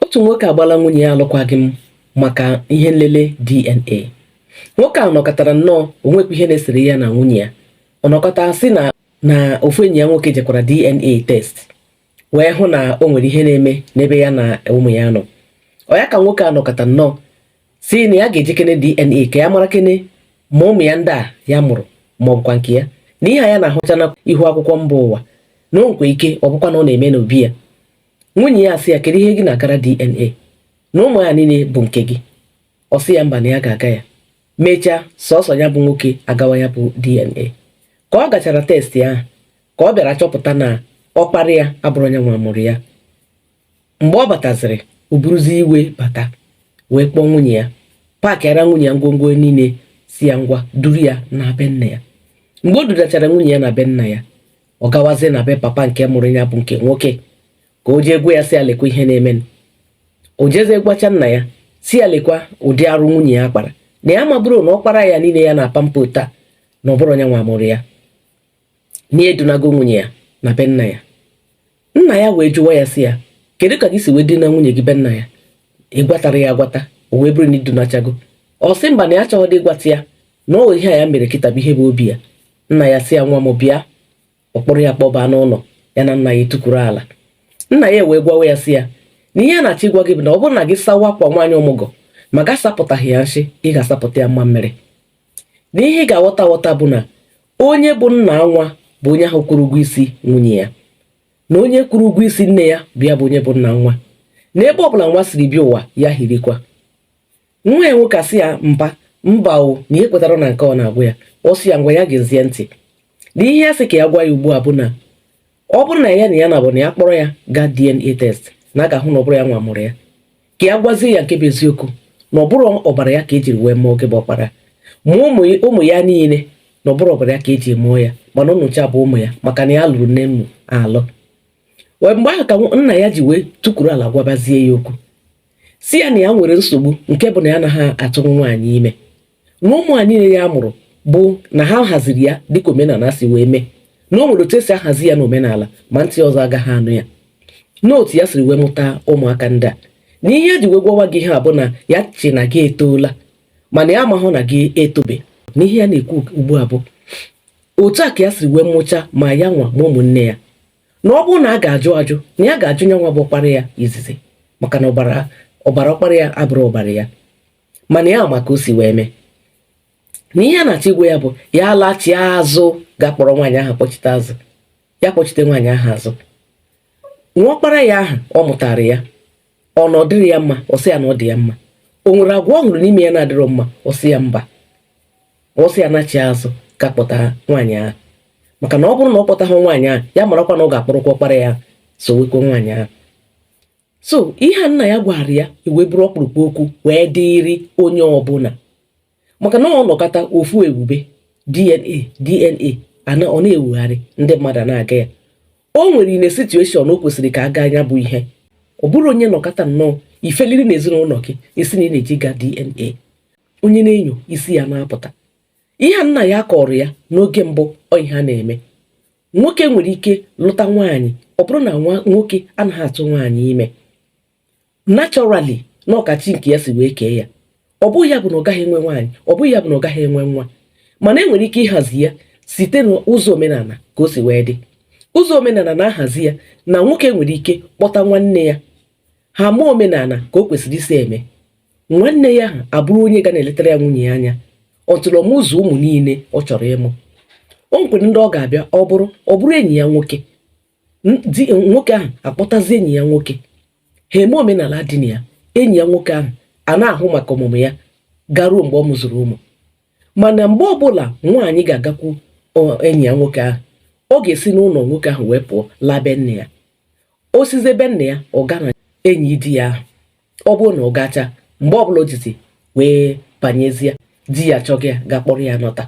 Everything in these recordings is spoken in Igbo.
Otu nwoke agbala nwunye ya alụkwaghị m maka ihe nlele DNA. Nwoke a nọkọtara nnọọ o nwekwa ihe na-esere ya na nwunye ya. Ọ nọkọta sị na na ofu enyi ya nwoke jekwara DNA test wee hụ na o nwere ihe na-eme n'ebe ya na ụmụ ya nọ. Ọ ya ka nwoke a nọkọta nnọọ sị na ya ga-ejekene DNA ka ya marakene ma ụmụ ya ndị a ya mụrụ ma ọ bụkwa nke ya na ihe a ya na-ahụcha na ihu akwụkwọ mba ụwa na o nwe ike ọ bụkwa na ọ na-eme n'obi ya nwunye ya asị ya kedu ihe gị na-agara DNA na ụmụ ya niile bụ nke gị ọ sị ya mba na ya ga-aga ya mechaa sọsọ ya bụ nwoke agawa ya bụ DNA ka ọ gachara test ahụ ka ọ bịara chọpụta na ọkpara ya abụrụ nya nwa mụrụ ya mgbe ọ bataziri o buruzi iwe bata wee kpọọ nwunye ya paakịara nwunye ya ngwongwo niile sị ya ngwa duru ya naa be nna ya mgbe o dudachara nwunye ya na be nna ya ọ gawazie na be papa nke mụrụ ya bụ nke nwoke ka o jee gwa ya sị ya lekwa ihe na-eme o jezie gwacha nna ya sị ya lekwa ụdị arụ nwunye ya kpara na ya amabụrụ na ọkpara ya niile ya na-pamper taa na ọ bụrụ nya nwa mụrụ ya na edunago nwunye ya na be nna ya nna ya wee jụwa ya sị ya kedu ka gị si wee duna nwunye gị be nna ya ị gwatara ya agwata o wee bụrụ na i dunachago ọ sị mba na ya achọghịdị ịgwata ya na ọ ihe a ya mere kịta bụ ihe bụ obi ya nna ya sị ya nwa m bịa ọ kpọrọ ya kpọba n'ụlọ ya na nna ya etukwuru ala nna ya wee gwawa ya sị ya na ihe ya na-achọ ịgwa gị bụ na ọ bụrụ na gị sawa akwa nwaanyị ọmụgọ ma gị asapụtaghị ya nshị ị ga-asapụta ya mmamịrị na ihe ị ga-aghọta aghọta bụ na onye bụ nna nwa bụ onye ahụ kwụrụ ụgwọ isi nwunye ya na onye kwụrụ ụgwọ isi nne ya bụ ya bụ onye bụ nna nwa na ebe ọ bụla nwa siri bịa ụwa ya hirikwa nwa ya nwoke asị ya mba mba o na ya ekwetara na nke ọ na-agwa ya ọ sị ya ngwa ya geezie ntị na ihe ya sị ka ya gwa ya ugbu a bụ na ọ bụrụ na ya na ya na bụ na ya kpọrọ ya gaa DNA test na a ga-ahụ na ọ bụrụ ya nwa mụrụ ya ka ya gwazie ya nke bụ eziokwu na ọ bụrụ ọbara ya ka e jiri wee mụọ gị bụ ọkpara ma ụmụ ya niile na ọ bụrụ ọbara ya ka e ji mụọ ya mana ụnụcha bụ ụmụ ya maka na ya lụrụ nne ụnụ alụ wee mgbe ahụ ka nna ya ji wee tukwuru ala gwabazie ya okwu sị ya na ya nwere nsogbu nke bụ na ya anaghị atụ nwaanyị ime na ụmụ a niile ya mụrụ bụ na ha haziri ya dịka omenala si wee mee na o nwere otu e si ahazi ya n'omenala ma ntị ọzọ agaghị anụ ya n'otu ya siri wee mụta ụmụaka ndị a na ihe ya ji wee gwawa gị ihe a bụ na ya che na gị etoola mana ya amahụ na gị etobe na ihe ya na-ekwu ugbu a bụ otu a ka ya siri wee mụcha ma ya nwa ma ụmụnne ya na ọ bụrụ na a ga-ajụ ajụ na ya ga-ajụ nya nwa bụ ọkpara ya izizi maka na ọbara ọkpara ya abụrụ ọbara ya mana ya ma ka o si wee mee na ihe ya na-achọ ịgwa ya bụ ya lachie azụ gaa kpọrọ nwaanyị ahụ kpọchite azụ ya kpọchite nwaanyị ahụ azụ nwa ọkpara ya ahụ ọ mụtara ya ọ na ọ dịrị ya mma ọ sị ya na ọ dị ya mma o nwere agwa ọ hụrụ n'ime ya na-adịrọ mma ọ sị ya mba ọ sị ya nachi azụ ka kpọta nwaanyị ahụ maka na ọ bụrụ na ọ kpọtaghị nwaanyị ahụ ya marakwa na ọ ga-akpọrọkwa ọkpara ya sowekwa nwaanyị ahụ so ihe a nna ya gwara ya ewee bụrụ ọkpụrụkpụ okwu wee dịrị onye ọbụla maka na ọ nọkata ofu ebube dna dna ana ọ na-ewugharị ndị mmadụ a na-aga ya o nwere ine situation o kwesịrị ka a gaa ya bụ ihe ọ bụrụ onye nọkata nnọọ ifeliri na ezinụlọ gị ị sị na ị na-eji ga dna onye na-enyo isi ya na-apụta ihe a nna ya kọrọ ya n'oge mbụ ọ ihe a na-eme nwoke nwere ike lụta nwaanyị ọ bụrụ na nwoke anaghị atụ nwaanyị ime naturally na ọ ka chi nke ya si wee kee ya ọ bụghị ya bụ na ọ gaghị enwe nwaanyị ọ bụghị ya bụ na ọ gaghị enwe nwa mana enwere ike ịhazi ya site n'ụzọ omenala ka o si wee dị ụzọ omenala na-ahazi ya na nwoke nwere ike kpọta nwanne ya ha mee omenala ka o kwesịrị isi eme nwanne ya ahụ abụrụ onye ga na-eletara ya nwunye ya anya until ọ mụzuo ụmụ niile ọ chọrọ ịmụ o nwekwere ndị ọ ga-abịa ọ bụrụ ọ bụrụ enyi ya nwoke nwoke ahụ akpọtazi enyi ya nwoke ha eme omenala dị na ya enyi ya nwoke ahụ a na-ahụ maka ọmụmụ ya garuo mgbe ọ mụzuru ụmụ mana mgbe ọbụla nwaanyị ga-agakwu ọ- enyi ya nwoke ahụ ọ ga-esi n'ụlọ nwoke ahụ wee pụọ laa be nne ya o sizie be nne ya ọ gaa na enyi di ya ahụ ọ bụrụ na ọ gacha mgbe ọbụla o jizi wee banyezie di ya chọga ya ga kpọrọ ya nọta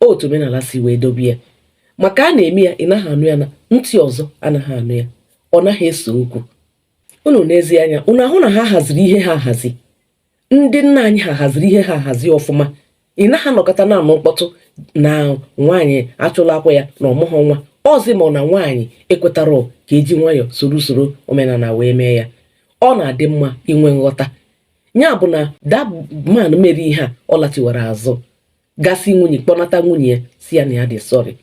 otu omenala si wee dobe ya maka a na-eme ya ị naghị anụ ya na ntị ọzọ anaghị anụ ya ọ naghị ese okwu unu nezie anya unu ahụ na ha haziri ihe ha ahazi ndị nna anyị ha haziri ihe ha ahazi ọfụma ị naghị anọkata na-anụ mkpọtụ na nwaanyị achụlakwa ya na ọ mụghọ nwa ọzi ma ọ na nwaanyị ekwetara ka eji nwayọọ soro usoro omenala wee mee ya ọ na-adị mma inwe nghọta ya bụ na that man mere ihe a ọ lachiwara azụ ga sị nwunye kpọnata nwunye ya sị ya na ya dị sorry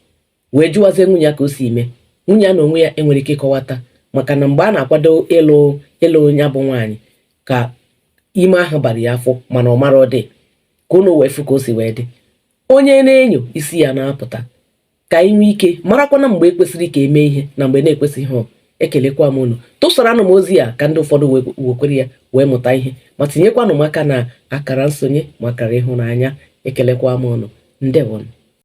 wee jụwazie nwunye ya ka o si eme nwunye ya na onwe ya enwere ike ịkọwata maka na mgbe a na-akwado ịlụ ịlụ ya bụ nwaanyị ka ime ahụ bara ya afọ mana ọ marọ ọ dị ka unu wee fụ ka o si wee dị onye na-enyo isi ya na-apụta ka anyị nwee ike marakwanụ mgbe ekwesịrị ka emee ihe na mgbe na-ekwesịghị ọ ekelekwa m unu tụsaranụ m ozi a ka ndị ụfọdụ wekwere ya wee mụta ihe ma tinyekwanụ m aka na akara nsonye ma akara ịhụnanya ekelekwa m unu ndewonụ